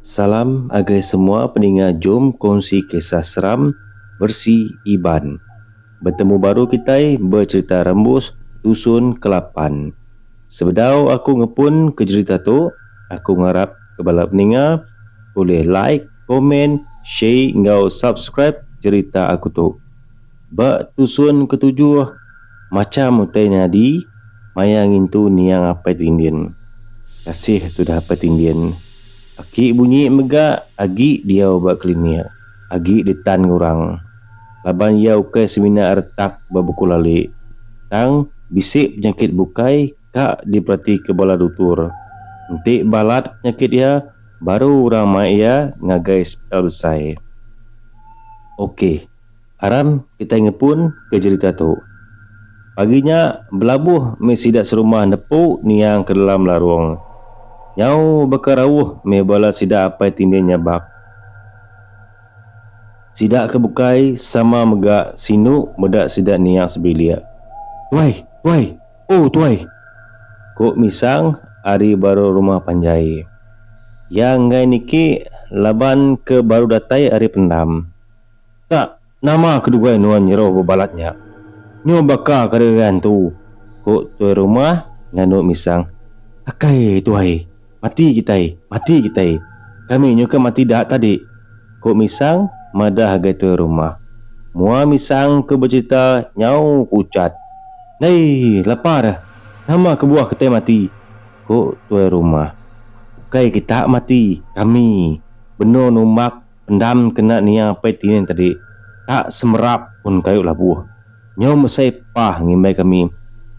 Salam agai semua peninga jom kongsi kisah seram versi iban. Betemu baru kitai ba cerita rembus dusun kelapan. Sebedau aku ngepun ke jerita tu aku ngarap ke bala peninga ulih like, komen, share enggau subscribe cerita aku tu. Ba tusun ketujuh, macham utai nyadi maya ngintu niang Apai Tindin. Kasih tudah Apai Tindin. Aki bunyi mega agi diau ba klinik, agi ditan ngurang. Laban iya ukai semina retak ba Buku Lali, tang bisi penyakit bukai ka diperatika bala dutur. Enti balat penyakit iya, baru orang mai iya ngagai sepital besai. Ok, aram kitai ngepun ke jerita tu. Pagi nya, belabuh mih sida serumah nepu niang ke dalam larung. Nyau baka rauh mih bala sida apai tindih nyabak. Sida ke bukai sama mega sinu meda sida niang sebilik. Tuai! Tuai! Oh tuai! ku Misang ari baru rumah panjai. Iya enggai niki laban ke baru datai ari pendam. Ta nama keduai nuan nyeruh bebalat nya. Nyu baka ke derian tu, ku tuai rumah nganu Misang. Akai tuai! Mati kitai! Mati kitai! Kami nyuka mati da tadi! ku Misang madah agai tuai rumah. Mua Misang ke becerita nyau ku Uchat. Ndai! Lapar! Nama kebuah kitai mati! ku tuai rumah. Ukai kita mati, kami! benung numbak Pendam kena nia apai tine tadi tak semerap pun kayu labuh. Nyau mesai pah ngimbai kami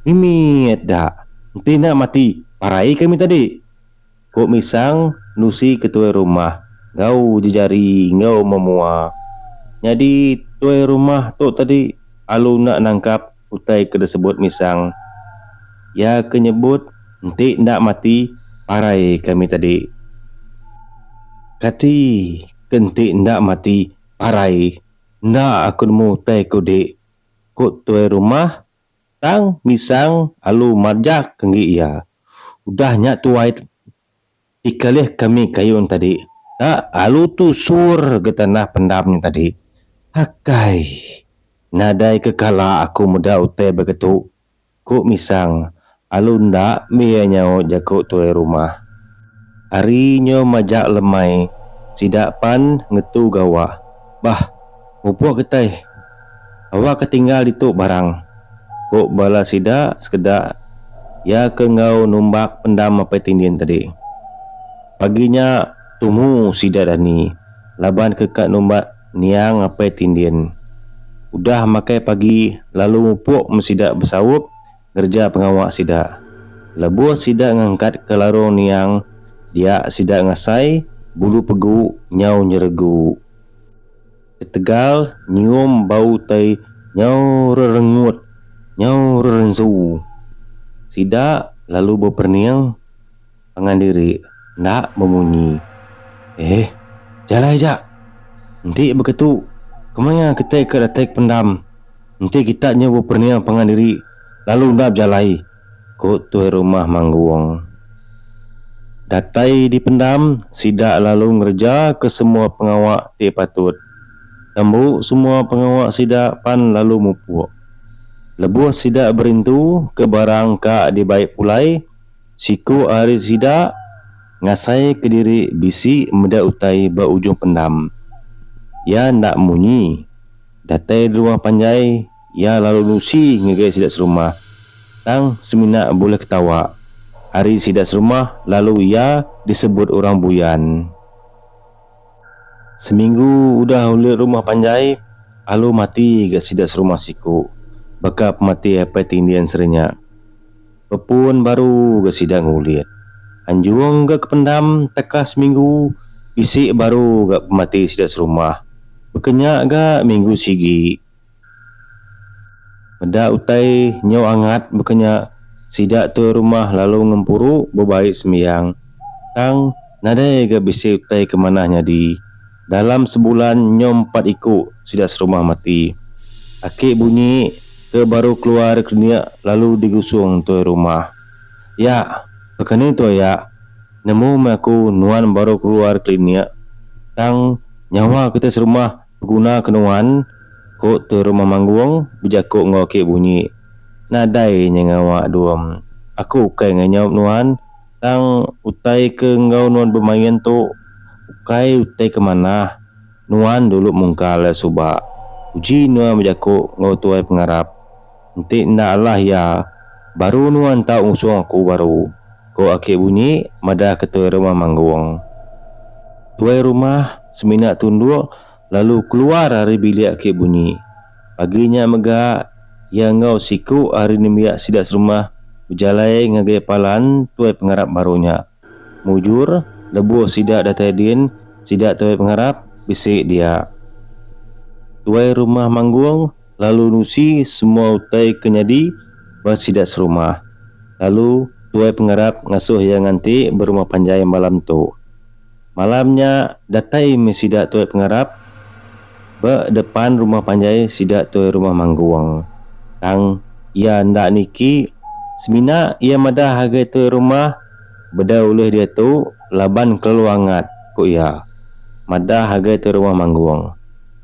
mimit dak enti enda mati parai kami tadi. Ku Misang nusi ke tuai rumah enggau jejari enggau memua. Nyadi tuai rumah tu tadi alu enda nangkap. Utai ke disebut Misang iya ke nyebut enti enda mati parai kami tadi. Kati ke enti enda mati parai enda aku nemu utai ke udik, ku tuai rumah tang Misang alu marjak enggi iya. Udah nya tuai Dikalih kami kayun tadi ka alu tu sur ga tanah pendam nya tadi. Akai. Nadai ke kala aku meda utai baka tu, ku Misang alu enda bia nyaut jaku tuai rumah. Ari nyo majak lemai sida pan ngetu gawa. Bah, mupuk kitai. Awak ke tinggal ditu barang, ku bala sida sekeda iya ke enggau numbak pendam apai tindin tadi. Pagi nya tumu sida dani laban ke ka numbak niang apai tindin. Udah makai pagi lalu mupuk meh sida besaup ngereja pengawa sida. Lebuh sida ngangkat ke larung niang dia sida ngasai bulu pegu nyau nyeregu. Ketegal nyium bau utai nyau rerengut, nyau rerensu. Sida lalu beperening pangan diri enda bemunyi. Eh, jalai aja. Enti beketu, kemaya kitai ke datai ke pendam enti kita nyau beperening pangan diri lalu enda bejalai? Ku tuai rumah Manggong. Datai dipendam, sida lalu ngerejaka semua pengawa ti patut. Tembu semua pengawa sida pan lalu mupuk. Lebuh sida berintu ke barang ka dibai pulai, siku ari sida ngasaika diri bisi meda utai ba ujung pendam. Iya enda munyi. Datai di rumah panjai. Iya lalu nusi ngagai sida serumah, tang semina bulih ketawa. Ari sida serumah lalu iya disebut orang buyan. Seminggu udah ulih rumah panjai, alu mati ga sida serumah siku. Baka pemati apai ti ndin serinya, bepun baru ga sida ngulit. Anjung ga kependam teka seminggu bisi baru ga pemati sida serumah. Baka nya ga minggu sigi Meda utai nyau angat baka nya sida tuai rumah lalu ngempuru bebai sembiang tang nadai ga bisi utai ke manah nyadi. Dalam sebulan nyau empat iku sida serumah mati. Aki bunyi ke baru keluar ari klinik lalu digusung tuai rumah. Yak, pakani tuai yak, nemu meh aku nuan baru keluar klinik tang nyawa kitai serumah. Beguna ke nuan, ku tu Rumah Manggung bejaku enggau aki Bunyi. Nadai nya ngawa Dum. Aku ukai nganyaup nuan tang utai ke enggau nuan bemain tu ukai utai ke manah. Nuan dulu mungkal suba. Uji nuan bejaku enggau tuai pengarap. Enti enda alah iya, baru nuan tau ngusung aku baru, ku Aki Bunyi madah ketua rumah Manggong. Tuai rumah semina tunduk lalu keluar ari bilik Aki Bunyi. Pagi nya mega, iya enggau siku ari nembiak sida serumah bejalai ngagai palan tuai pengarap baru nya. Mujur, lebuh sida datai din, sida tuai pengarap bisi dia. Tuai rumah manggung lalu nusi semua utai ke nyadi ba sida serumah. Lalu tuai pengarap ngasuh iya nganti berumah panjai malam tu. Malam nya datai meh sida Tuai Pengarap ba depan rumah panjai sida Tuai Rumah Manggung. Tang iya enda niki, semina iya madah agai Tuai Rumah bedau ulih diatu laban kelalu angat, ku iya. Madah agai Tuai Rumah Manggung.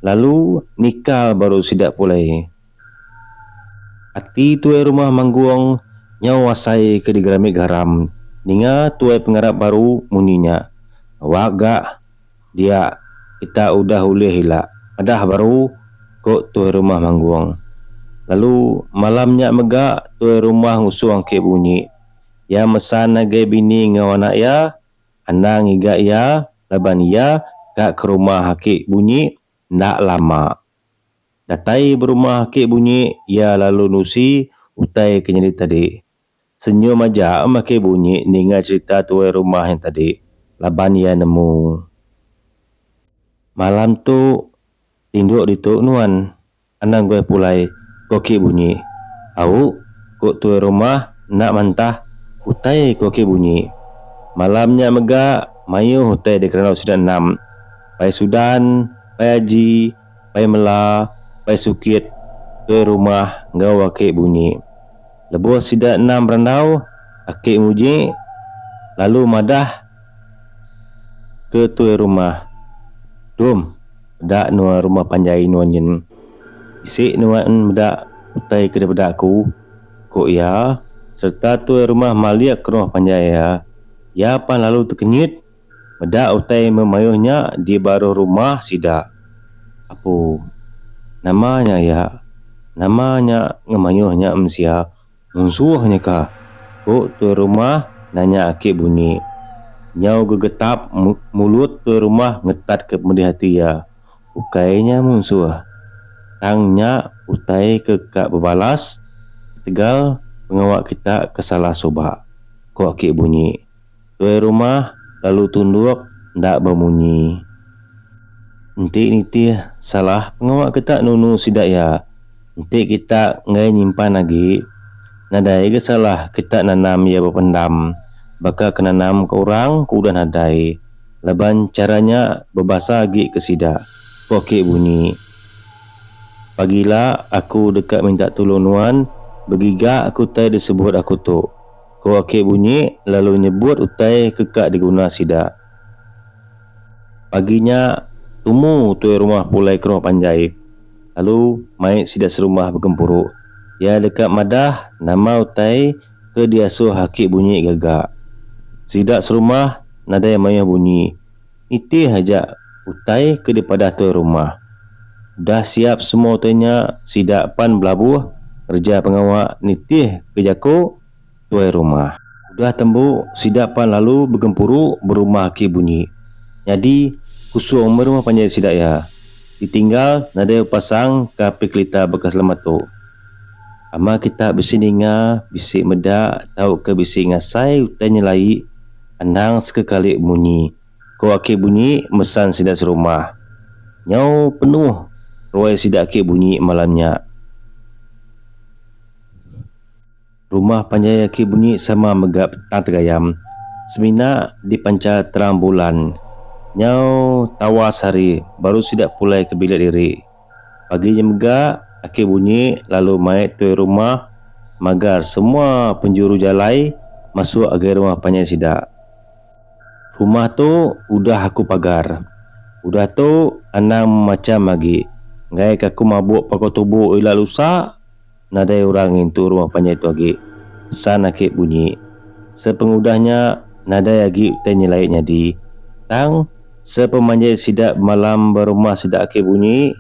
Lalu nikal baru sida pulai. Ati tuai rumah Manggong nyau asai ke digerami garam ninga tuai pengarap baru munyi nya. Awak ga dia kita udah ulih ila madah baru, ku tuai rumah Manggong. Lalu malam nya mega tuai rumah ngusung ake bunyi. Iya mesan ngagai bini enggau anak iya anang ngiga iya laban iya ga ke rumah ake bunyi enda lama. Datai berumah ake bunyi iya lalu nusi utai ke nyadi tadi. Senyum aja em ake bunyi ninga cerita tuai rumah nya tadi laban iya nemu. Malam tu tinduk ditu nuan anang guai pulai ko ake bunyi. Au, ko tuai rumah enda mantah utai ko ake bunyi. Malam nya mega maioh utai dikerandau sida enam, Pai Sudan, Pai Aji, Pai mela, pai sukit, tuai rumah enggau aki bunyi. Lebuh sida enda merandau, aki Muji lalu madah ke tuai rumah, Dum, peda nuan rumah panjai nuan nyin. Bisi nuan meda utai ke dipeda aku, ku iya sereta tuai rumah malik ke rumah panjai iya. Iya pan lalu tekenyit. Meda utai memayuh nya di baruh rumah sida. Apu. Nama nya iya? Nama nya ngemayuh nya mensia? Munsuh nya ka? ku tuai rumah nanya aki bunyi. Nyau gegetap mulut tuai rumah ngetat ke pedih ati iya. Ukai nya munsuh. Tang nya utai ke ka bebalas ketegal pengawa kita ke salah suba, ku aki bunyi. Tuai rumah lalu tunduk enda bemunyi. Enti nitih salah pengawa kita nunu sida iya, enti kita enggai nyimpan agi, nadai ga salah kita nanam iya bependam baka ke nanam ke orang ke udah nadai laban chara nya bebasa agi ke sida, ku aki bunyi. Pagi ila aku deka minta tulung nuan begiga ke utai disebut aku tu, Ko Akik bunyi lalu nyebut utai ke ka diguna sida. Pagi nya, tumu tuai rumah pulai ke rumah panjai lalu mai sida serumah begempuru. Iya deka madah nama utai ke diasuh Akik bunyi gaga. Sida serumah nadai mayuh bunyi. Nitih aja utai ke dipadah tuai rumah. Udah siap semua utai nya sida pan belabuh ngereja pengawa nitih ke jaku tuai rumah. Udah tembu sida pan lalu begempuru berumah aki bunyi. Nyadi kusung meh rumah panjai sida iya. Ditinggal nadai bepasang ke api kelita baka selamat tu. Ama kita bisi ninga, bisi meda tauka bisi ngasai utai nyelai. Endang sekekali munyi, ko aki bunyi mesan sida serumah. Nyau penuh ruai sida aki bunyi malam nya. Rumah panjai aki bunyi sama mega petang tegayam. Semina dipancha terang bulan. Nyau tawas hari baru sida pulai ke bilik diri. Pagi nya mega, aki bunyi lalu mai tuai rumah magar semua penjuru jalai masuk agai rumah panjai sida. Rumah tu udah aku pagar. Udah tu, anang macam agi. Enggai ka aku mabuk paku tubuh ila lusa. Nadai orang ngintu rumah panjai tu agi, pesan Akip bunyi. Sepengudah nya, nadai agi utai nyelai nyadi. Tang, sepemanjai sida bemalam ba rumah sida Akip bunyi,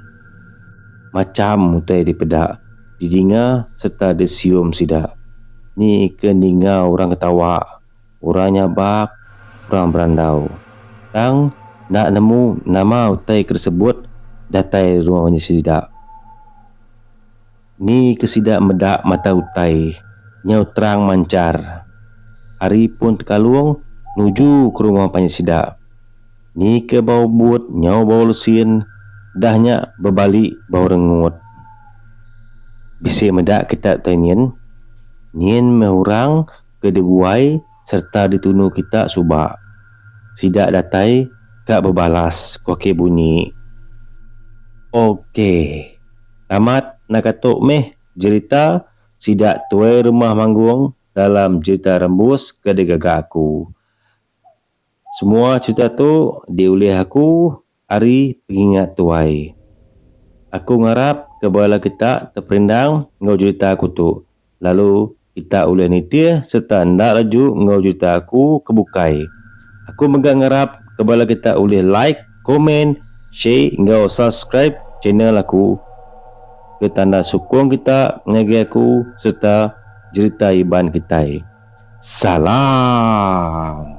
macham utai dipeda, didinga sereta disium sida. Ni ke ninga orang ketawa, orang nyabak, orang berandau. Tang, enda nemu nama utai ke disebut datai rumah panjai sida. Ni ke sida meda mata utai nyau terang manchar. Ari pun Tekalong nuju ke rumah panjai sida. Ni ke bau but nyau bau lesin dah nya bebali bau rengut. Bisi meda kita utai nyin. Nyin meh orang ke diguai sereta ditunu kita suba. Sida datai ka bebalas, ku Aki Bunyi. Okey. Tamat naga tu mih jerita sida tuai rumah manggung dalam jerita rembus ke digaga aku. Semua cerita tu diulih aku ari pengingat tuai. Aku ngarap ke bala kita teperindang enggau jerita aku tu. Lalu kita ulih nitih sereta enda laju enggau juta aku ke bukai. Aku mega ngarap ke bala kita ulih like, komen, share enggau subscribe channel aku ke tanda sukung kita ngagai aku sereta jerita Iban kitai. Salam.